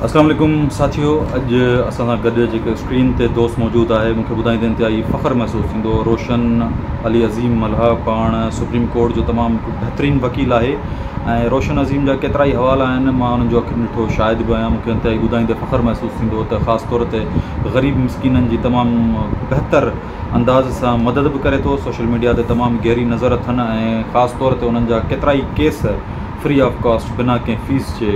اسلام عليڪم ساٿيو اڄ اسان سان گڏ جيڪو اسڪرين تي دوست موجود آهي مون کي ٻڌائيندي انتهائي فخر محسوس ٿيندو روشن علي عظيم ملها پاڻ سپريم ڪورٽ جو تمام هڪ بهترين وڪيل آهي ۽ روشن عظيم جا ڪيترا ئي حوالا آهن مان انهن جو اکين ڏٺو شاهد به آهيان مون کي انتهائي ٻڌائيندي فخر محسوس ٿيندو ته خاص طور تي غريب مسڪينن جي تمام بهتر انداز سان مدد به ڪري ٿو، سوشل ميڊيا تي تمام گهري نظر اٿن ۽ خاص طور تي انهن جا ڪيترائي ڪيس فري آف ڪاسٽ بنا ڪنهن فيس جي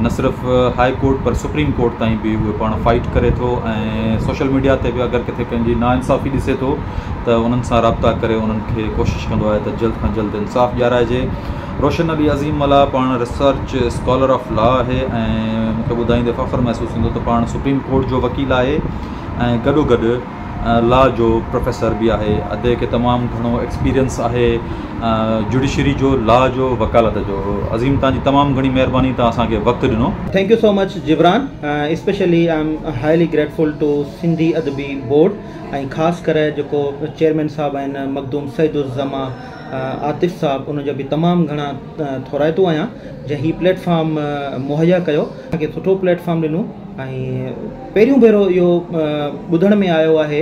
نه صرف هاء ڪورٽ پر سپريم ڪورٽ تائين به اهي پاڻ فائيٽ ڪري ٿو ۽ سوشل ميڊيا تي به اگر ڪٿي ڪنهن جي نا انصافي ڏسي ٿو ته انهن سان رابطا ڪري انهن کي ڪوشش ڪندو آهي ته جلد کان جلد انصاف ڏيارائجي روشن علي عظيم ملاح پاڻ ريسرچ اسڪالر آف لا آهي ۽ مون کي ٻڌائيندي فخر محسوس ٿيندو ته پاڻ سپريم ڪورٽ جو وڪيل آهي ۽ گڏو گڏ لا جو پروفيسر به آهي ادي کي تمام گهڻو ايڪسپيرينس آهي جوڊيشري جو لا جو وڪالت جو عظيم توهان جي تمام گهڻي مهرباني توهان اسان کي وقت ڏنو. Thank you so much Jibran especially I am highly grateful to Sindhi Adabi board ۽ خاص ڪري جيڪو چيئرمين صاحب آهن مخدوم سعيد الزماء عاطف صاحب ان جو به تمام گهڻا ٿورائتو آهيان جنهن هي پليٽ فارم مهيا ڪيو اسان کي سٺو پليٽ فارم ڏنو ۽ پهريون ڀيرو اهو ٻڌڻ ۾ آيو آهي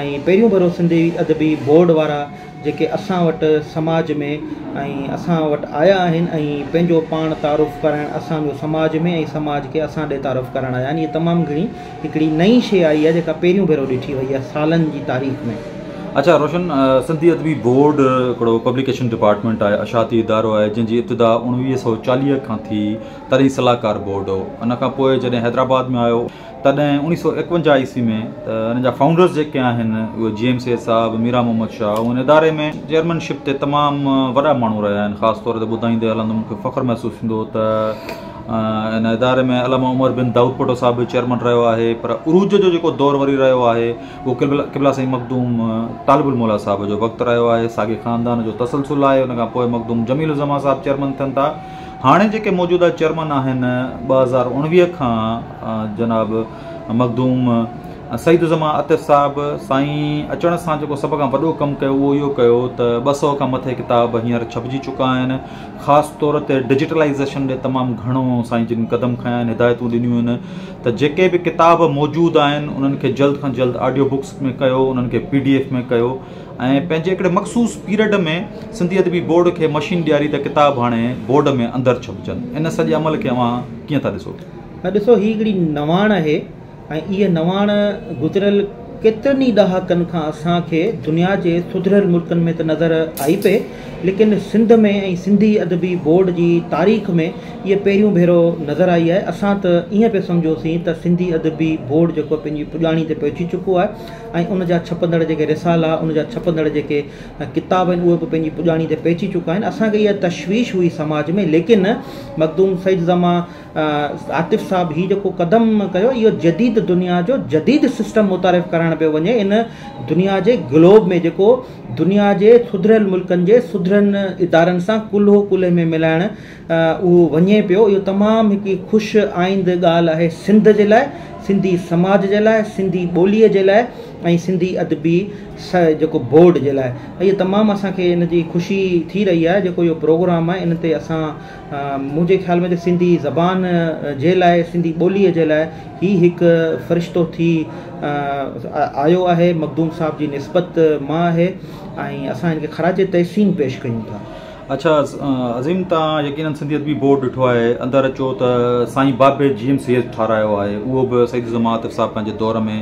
۽ پهريون ڀيرو سنڌي ادبي بورڊ وارا جيڪي اسان وٽ سماج ۾ ۽ اسان وٽ آيا آهن ۽ پنهنجو پاڻ تعارف ڪرائڻ اسان جو سماج ۾ ۽ سماج کي اسان ڏي تعارف ڪرڻ آيا آهن هي تمام گهڻي هڪڙي نئين شيء آئي آهي جيڪا پهريون ڀيرو ڏٺي وئي آهي سالن جي تاريخ ۾. اچا روشن سنڌي ادبي بورڊ هڪڙو پبليڪيشن ڊپارٽمينٽ آهي اشاعتي ادارو آهي جنهن جي ابتدا اوڻويهه سؤ چاليهه کان ٿي تڏهن صلاحڪار بورڊ هو ان کان پوء جڏهن حيدرآباد ۾ آيو تڏهن اوڻيهه سؤ ايڪونجاهه عيسوي ۾ ته ان جا فائونڊرز جيڪي آهن اهي جي ايم سيد صاحب ميران محمد شاهه ان اداري ۾ چيئرمين شپ تي تمام وڏا ماڻهو رهيا آهن خاص طور تي ٻڌائيندي هلندم مون کي فخر محسوس ٿيندو ته ان اداري ۾ علامه عمر بن دائود پٽو صاحب به چيئرمين رهيو آهي پر عروج جو جيڪو دور وري رهيو آهي اهو قبلا قبلا سائين مخدوم طالب الموليٰ صاحب جو وقت رهيو آهي ساڳي خاندان جو تسلسل آهي ان کان پوء مخدوم جميل الزمان صاحب چيئرمين ٿين ٿا هاڻي جيڪي موجوده چيئرمن آهن ٻه هزار اڻويهه کان جناب مخدوم سعيدالزمان عاطف صاحب سائين اچڻ سان جيڪو سڀ کان وڏو ڪم ڪيو اهو اهو ڪيو ته ٻه سئو کان مٿي ڪتاب هينئر ڇپجي چڪا آهن خاص طور تي ڊجيٽلائيزيشن ڏي تمام گهڻو سائين جن قدم کنيا آهن هدايتون ڏنيون آهن ته جيڪي به ڪتاب موجود آهن انهن کي جلد کان جلد آڊيو بڪس ۾ ڪيو انهن کي پي ڊي ايف ۾ ڪيو ۽ پنهنجي هڪڙي مخصوص پيرڊ ۾ سنڌي ادبي بورڊ کي مشين ڏياري ته ڪتاب هاڻي بورڊ ۾ اندر ڇپجن ان سڄي عمل کي اوهان ڪيئن ٿا ڏسو؟ نه ڏسو هي هڪڙي نواڻ آهي ۽ اها نواڻ گذريل ڪيترن ئي ڏهاڪن کان اسان کي دنيا جي سڌريل ملڪن ۾ ته نظر آئي پئي ليڪن سنڌ ۾ ۽ سنڌي ادبي بورڊ جي تاريخ ۾ اها پهريون ڀيرو نظر آئي آهي اسان ته ائين پئي سمجهوسين ته سنڌي ادبي بورڊ جيڪو پنهنجي پڄاڻي تي پهچي چڪو آهي ۽ ان جا ڇپندڙ جيڪي رسالا، ان جا ڇپندڙ جيڪي ڪتاب آهن اهي به پنهنجي پڄاڻي تي پهچي چڪا آهن. اسان کي اها تشويش هئي سماج ۾ ليڪن مخدوم سيد زمان عاطف صاحب هي جيڪو قدم ڪيو اهو جديد دنيا جو جديد سسٽم متعارف ڪرائڻ پيو وڃي ان دنيا جي گلوب ۾ جيڪو دنيا جي سڌريل ملڪن جي سڌرين ادارن سان ڪلهو ڪلهي ۾ ملائڻ اهو وڃي پيو اهو تمام هڪ خوش آئند ڳالهه آهي سنڌ جي لاء سنڌي سماج جي لاء سنڌي ٻولي جي لاء ۽ سنڌي ادبي سا جيڪو بورڊ جي لاء اهي تمام اسان کي ان جي خوشي ٿي رهي آهي جيڪو اهو پروگرام آهي ان تي اسان منهنجي خيال ۾ سنڌي زبان جي لاء سنڌي ٻولي جي لاء هي هڪ فرشتو ٿي آيو آهي مخدوم صاحب جي نسبت مان آهي ۽ اسان ان کي خراج تحسين پيش ڪيون ٿا اڇا عظيم توهان يقينن سنڌيت بي بورڊ ڏٺو آهي اندر اچو ته سائين بابي جي ايم سي ايچ ٺارايو آهي اهو به سيد الزمان عاطف صاحب پنهنجي دور ۾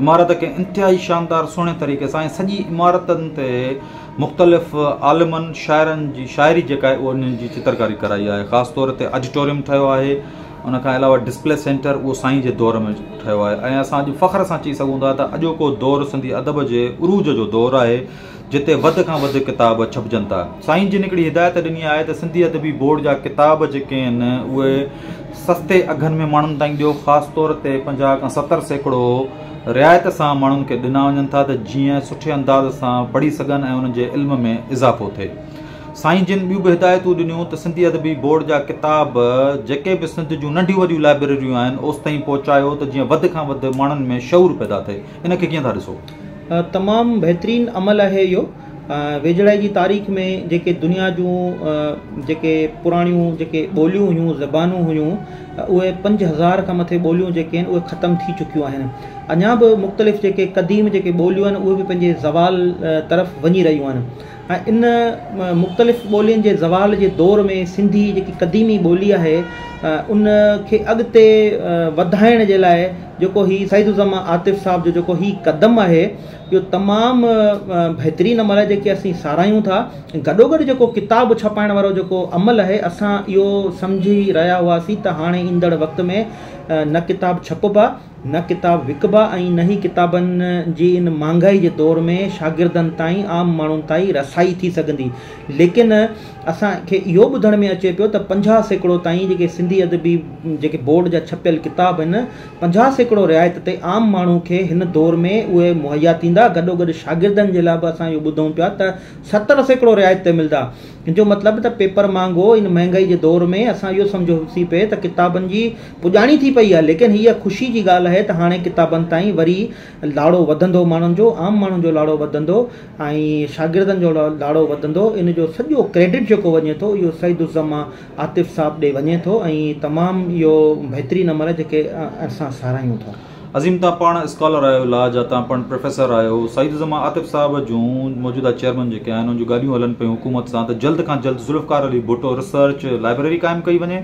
عمارت کي انتهائي شاندار سهڻي طريقي سان ۽ سڄي عمارتن تي مختلف عالمن شاعرن جي شاعري جيڪا آهي ان جي چترڪاري ڪرائي آهي خاص طور تي اڊيٽوريم ٺهيو آهي ان کان علاوه ڊسپلي سينٽر اهو سائين جي دور ۾ ٺهيو آهي ۽ اسان اڄ فخر سان چئي سگهون ٿا ته اڄوڪو دور سنڌي ادب جي عروج جو دور آهي جتي وڌ کان وڌ ڪتاب ڇپجن ٿا. سائين جن هڪڙي هدايت ڏني آهي ته سنڌي ادبي بورڊ جا ڪتاب جيڪي آهن اهي سستي اگهن ۾ ماڻهن تائين ڏيو خاص طور تي پنجاهه کان ستر سيڪڙو رعايت سان ماڻهن کي ڏنا وڃن ٿا ته جيئن سٺي انداز سان پڙهي سگهن ۽ انهن جي علم ۾ اضافو ٿئي سائين جن ٻيون به هدايتون ڏنيون ته سنڌي ادبي بورڊ جا ڪتاب جيڪي به سنڌ جون ننڍيون وڏيون لائبريريون آهن اوستائين پهچايو ته جيئن وڌ کان وڌ ماڻهن ۾ شعور پيدا ٿئي. ان کي ڪيئن ٿا ڏسو؟ تمام بهترين عمل آهي اهو ويجهڙائي جي تاريخ ۾ جيڪي دنيا جون جيڪي پراڻيون جيڪي ٻوليون هيون زبانون هيون اهي پنج هزار کان مٿي ٻوليون جيڪي آهن اهي ختم ٿي چڪيون آهن اڃا به مختلف جيڪي قديم جيڪي ٻوليون آهن اهي به پنهنجي زوال طرف وڃي رهيون آهن ان مختلف ٻولين جي زوال جي دور ۾ سنڌي جيڪي قديمي ٻولي آهي ان کي اڳتي وڌائڻ جي لاء جيڪو هي سيد الزمان عاطف صاحب جو جيڪو هي قدم آهي اهو تمام بهترين عمل آهي جيڪي اسين ساراهيون ٿا گڏو گڏ جيڪو ڪتاب ڇپائڻ وارو جيڪو عمل آهي اسان اهو سمجهي رهيا هئاسين ته هاڻي ايندڙ وقت ۾ نه ڪتاب ڇپبا نه ڪتاب وڪبا ۽ نه ئي ڪتابن جي ان مھانگائي جي دور ۾ شاگردن تائين عام ماڻھن تائين رسائي ٿي سگھندي ليڪن اسان کي اھو ٻڌڻ ۾ اچي پيو ته پنجاھ سيڪڙو تائين جيڪي سنڌي ادبي جيڪي بورڊ جا ڇپيل ڪتاب ھن پنجاھ سيڪڙو رعايت تي عام ماڻھو کي ھن دور ۾ اھي مھيا ٿيندا گڏوگڏ شاگردن جي لاء به اسان اھو ٻڌون پيا ته ستر سيڪڙو رعايت تي ملدا ان جو مطلب ته پيپر مانگو ان مهنگائي جي دور ۾ اسان اهو سمجهو سي پئي ته ڪتابن جي پڄاڻي ٿي پئي آهي ليڪن هيء خوشي جي ڳالهه آهي ته هاڻي ڪتابن تائين وري لاڙو وڌندو ماڻهن جو عام ماڻهن جو لاڙو وڌندو ۽ شاگردن جو لاڙو وڌندو ان جو سڄو ڪريڊٽ جيڪو وڃي ٿو اهو سعيد الزما عاطف صاحب ڏي وڃي ٿو ۽ تمام اهو بهترين عمل جيڪي اسان ساراهيون ٿا. عظيم تان پاڻ اسڪالر آهيو لا جا تان پڻ پروفيسر آهيو سعيد الزمان عاطف صاحب جون موجوده چيئرمن جيڪي آهن ان جون ڳالهيون هلن پيون حڪومت سان ته جلد کان جلد ذوالفقار علي ڀٽو ريسرچ لائبريري قائم ڪئي وڃي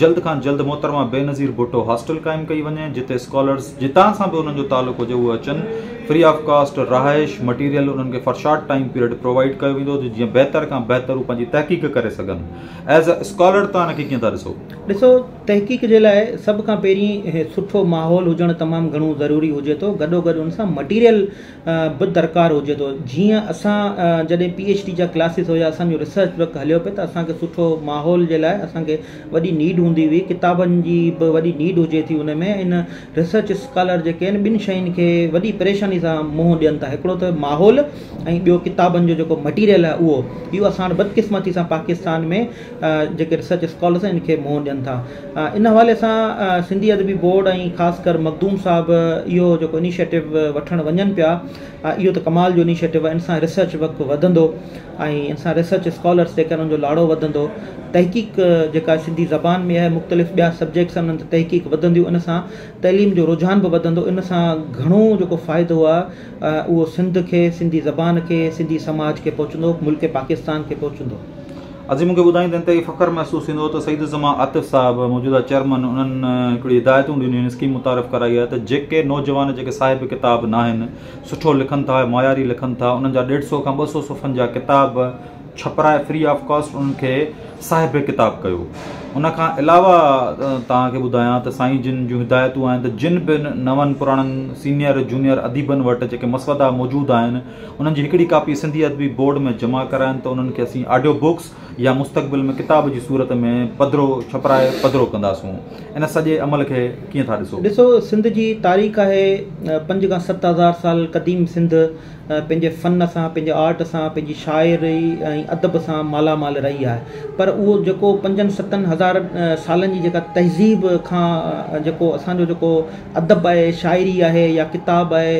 جلد کان جلد محترمه بينظير ڀٽو هاسٽل قائم ڪئي وڃي جتي اسڪالرز جتان سان به انهن جو تعلق هجي اهي اچن فري آف ڪاسٽ رهائش مٽيريل انهن کي for short time period provide ڪيو ويندو ته جيئن بهتر کان بهتر هو پنهنجي تحقيق ڪري سگهن ايز اي اسڪالر تان ان کي ڪيئن ٿا ڏسو؟ ڏسو تحقيق جي لاء سڀ کان پهرين سٺو ماحول هجڻ تمام گهڻو ضروري هجي ٿو گڏو گڏ ان سان مٽيريل به درڪار هجي ٿو جيئن اسان جڏهن پي ايڇ ڊي جا ڪلاسز هيا اسانجو ريسرچ ورڪ هليو پئي ته اسانکي سٺو ماحول جي لاء اسانکي وڏي نيڊ هوندي هئي ڪتابن جي به وڏي نيڊ هجي ٿي ان ۾ ان ريسرچ اسڪالر جيڪي آهن ٻن شين کي وڏي پريشاني سان منهن ڏين ٿا هڪڙو ته ماحول ۽ ٻيو ڪتابن جو جيڪو مٽيريل آهي اهو اهو اسان وٽ بدقسمتي سان پاڪستان ۾ جيڪي ريسرچ اسڪالرس ان کي منهن ڏين ٿا ان حوالي سان سنڌي ادبي بورڊ ۽ خاص ڪر مخدوم صاحب اهو جيڪو انيشيٽو وٺڻ وڃن پيا اهو ته ڪمال جو انيشيٽو آهي ان سان ريسرچ ورڪ وڌندو ۽ ان سان ريسرچ اسڪالرس جيڪا ان جو لاڙو وڌندو تحقيق جيڪا سنڌي زبان ۾ آهي مختلف ٻيا سبجيڪٽس انهن تي تحقيق وڌنديون ان سان تعليم جو رجحان به وڌندو ان سان گهڻو جيڪو فائدو آهي اهو سنڌ کي سنڌي زبان کي سنڌي سماج کي پهچندو ملڪ پاڪستان کي پهچندو عظيم مون کي ٻڌائيندي انتهائي فخر محسوس ٿيندو هو ته سيد الزمان عاطف صاحب موجوده چيئرمن انهن هڪڙي هدايتون ڏنيون آهن اسڪيم متعارف ڪرائي آهي ته جيڪي نوجوان جيڪي صاحب ڪتاب ناهن سٺو لکن ٿا ۽ معياري لکن ٿا انهن جا ڏيڍ سئو کان ٻه سئو صفحن جا ڪتاب ڇپرائي فري آف ڪاسٽ انهن کي صاحب ڪتاب ڪيو ان کان علاوه توهان کي ٻڌايان ته سائين جن جون هدايتون آهن ته جن به نون پراڻن سينئر جونئر اديبن وٽ جيڪي مسودا موجود آهن انهن جي هڪڙي ڪاپي سنڌي ادبي بورڊ ۾ جمع ڪرائن ته انهن کي اسين آڊيو بڪس يا مستقبل ۾ ڪتاب جي صورت ۾ پڌرو ڇپرائي پڌرو ڪنداسون. ان سڄي عمل کي ڪيئن ٿا ڏسو؟ ڏسو سنڌ جي تاريخ آهي پنج کان ست هزار سال قديم سنڌ پنهنجي فن سان پنهنجي آرٽ سان پنهنجي شاعري ۽ ادب سان مالا مال رهي آهي پر اهو جيڪو پنجن ستن هزار سالن جي جيڪا تهذيب کان جيڪو اسان جو جيڪو ادب آهي شاعري آهي يا ڪتاب آهي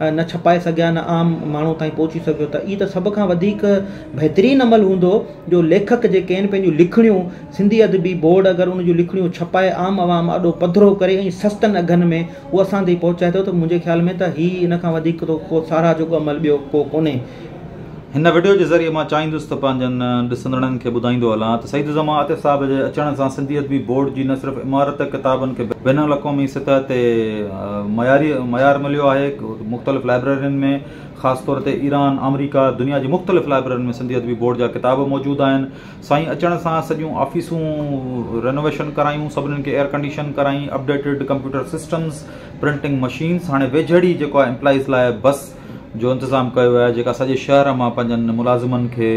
نه ڇپائي سگهيا نه عام ماڻهو تائين پهچي سگهيو ته هي ته سڀ کان وڌيڪ بهترين عمل هوندو جو ليکڪ جيڪي آهن پنهنجون لکڻيون سنڌي ادبي بورڊ اگر ان جون لکڻيون ڇپائي عام عوام اڏو پڌرو ڪري ۽ سستن اگهن ۾ هو اسان تائين پهچائي ٿو ته منهنجي خيال ۾ ته هي ان کان وڌيڪ ڪو ساراهه جوڳو عمل ٻيو ڪو ڪونهي هن وڊيو جي ذريعي مان چاهيندس ته پنهنجن ڏسندڙن کي ٻڌائيندو هلان ته سيد الزمان عاطف صاحب جي اچڻ سان سنڌي ادبي بورڊ جي نه صرف عمارت ڪتابن کي بين الاقوامي سطح تي معياري معيار مليو آهي مختلف لائبريرين ۾ خاص طور تي ايران آمريڪا دنيا جي مختلف لائبريرين ۾ سنڌي ادبي بورڊ جا ڪتاب موجود آهن سائين اچڻ سان سڄيون آفيسون رينوويشن ڪرايون سڀني کي ايئر ڪنڊيشن ڪرائين updated computer systems printing machines هاڻي ويجهڙ ئي جيڪو آهي امپلائيز لاء بس جو انتظام ڪيو آهي جيڪا سڄي شهر مان پنهنجن ملازمن کي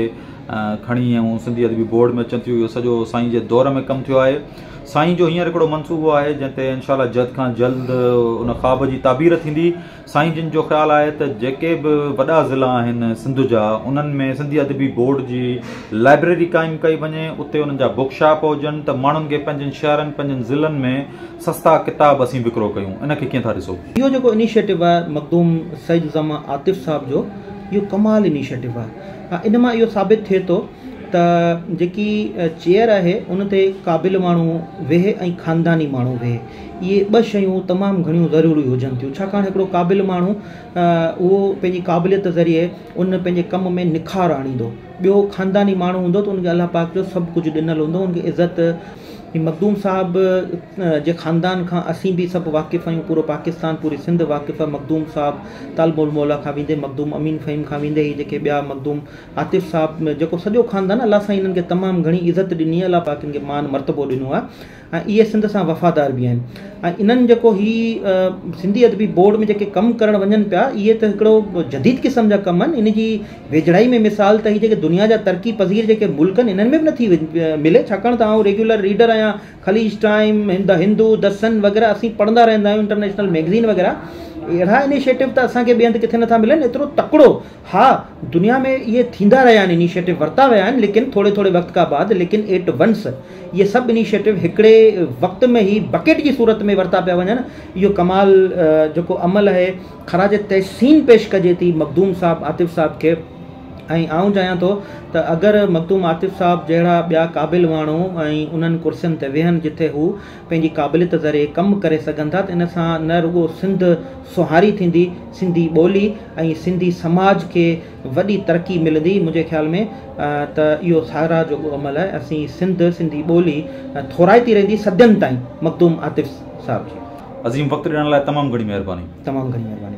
کڻي ۽ سنڌي ادبي بورڊ ۾ اچن ٿيون اهو سڄو سائين جي دور ۾ ڪم ٿيو آهي سائين جو هينئر هڪڙو منصوبو آهي جنهن تي انشاء الله جلد کان جلد ان خواب جي تعبير ٿيندي سائين جن جو خيال آهي ته جيڪي به وڏا ضلع آهن سنڌ جا انهن ۾ سنڌي ادبي بورڊ جي لائبريري قائم ڪئي وڃي اتي انهن جا بوڪ شاپ هجن ته ماڻهن کي پنهنجن شهرن پنهنجن ضلعن ۾ سستا ڪتاب اسين وڪرو ڪيون ان کي ڪيئن ٿا ڏسو. اهو جيڪو انيشيٽو آهي مخدوم سيد الزماء عاطف صاحب جو اهو ڪمال انيشيٽو آهي ان مان اهو ثابت ٿئي ٿو ته جيڪي چيئر آهي ان تي قابل ماڻهو ويهي ۽ خانداني ماڻهو ويهي اهي ٻه شيون تمام گهڻيون ضروري هجن ٿيون ڇاڪاڻ هڪڙو قابل ماڻهو اهو پنهنجي قابليت ذريعي ان پنهنجي ڪم ۾ نکار آڻيندو ٻيو خانداني ماڻهو هوندو ته ان کي الله پاڪ جو سڀ ڪجهه ڏنل هوندو ان کي عزت هي مخدوم صاحب جي خاندان کان اسين به سڀ واقف آهيون پورو پاڪستان پوري سنڌ واقف آهي مخدوم صاحب طالب الموليٰ کان ويندي مخدوم امين فهيم کان ويندي هي جيڪي ٻيا مخدوم عاطف صاحب جيڪو سڄو خاندان الله سائين هنن کي تمام گهڻي عزت ڏني آهي الله پاڪ هنن کي مان مرتبو ڏنو آهي ۽ اهي سنڌ سان وفادار به آهن ۽ انهن جيڪو هي سنڌي ادبي بورڊ ۾ جيڪي ڪم ڪرڻ وڃن پيا اهي ته هڪڙو جديد قسم جا ڪم آهن ان جي ويجهڙائي ۾ مثال ته هي جيڪي دنيا جا ترقي پذير جيڪي ملڪ آهن انهن ۾ به نٿي ملي ڇاڪاڻ ته آئون ريگيولر ريڊر آهيان خليج ٽائيم دي هندو دي سن وغيره اسين پڙهندا رهندا آهيون انٽرنيشنل ميگزين وغيره اهڙا انيشيٽو ته اسان کي ٻئي هنڌ ڪٿي نٿا ملن ايترو تڪڙو ها دنيا ۾ اهي ٿيندا رهيا آهن انيشيٽو ورتا ويا آهن ليڪن ٿوري ٿوري وقت کان بعد ليڪن ايٽ ونس اهي سڀ انيشيٽو هڪڙي وقت ۾ هي بڪيٽ جي صورت ۾ ورتا پيا وڃن اهو ڪمال جيڪو عمل آهي خراج تحسين پيش ڪجي ٿي مخدوم صاحب عاطف صاحب کي ۽ آئون چاهيان ٿو ته اگر مخدوم عاطف صاحب جهڙا ٻيا قابل ماڻهو ۽ انهن ڪرسين تي ويهن جتي هو پنهنجي قابليت ذريعي ڪم ڪري سگهن ٿا ته ان سان نه رڳو سنڌ سونهاري ٿيندي سنڌي ٻولي ۽ سنڌي سماج کي وڏي ترقي ملندي منهنجي خيال ۾ ته اهو ساراهه جوڳو عمل آهي اسين سنڌ سنڌي ٻولي ٿورائتي رهندي صدين تائين مخدوم عاطف صاحب جي. عظيم وقت ڏيڻ لاء تمام گھڻي مهرباني. تمام گھڻي مهرباني.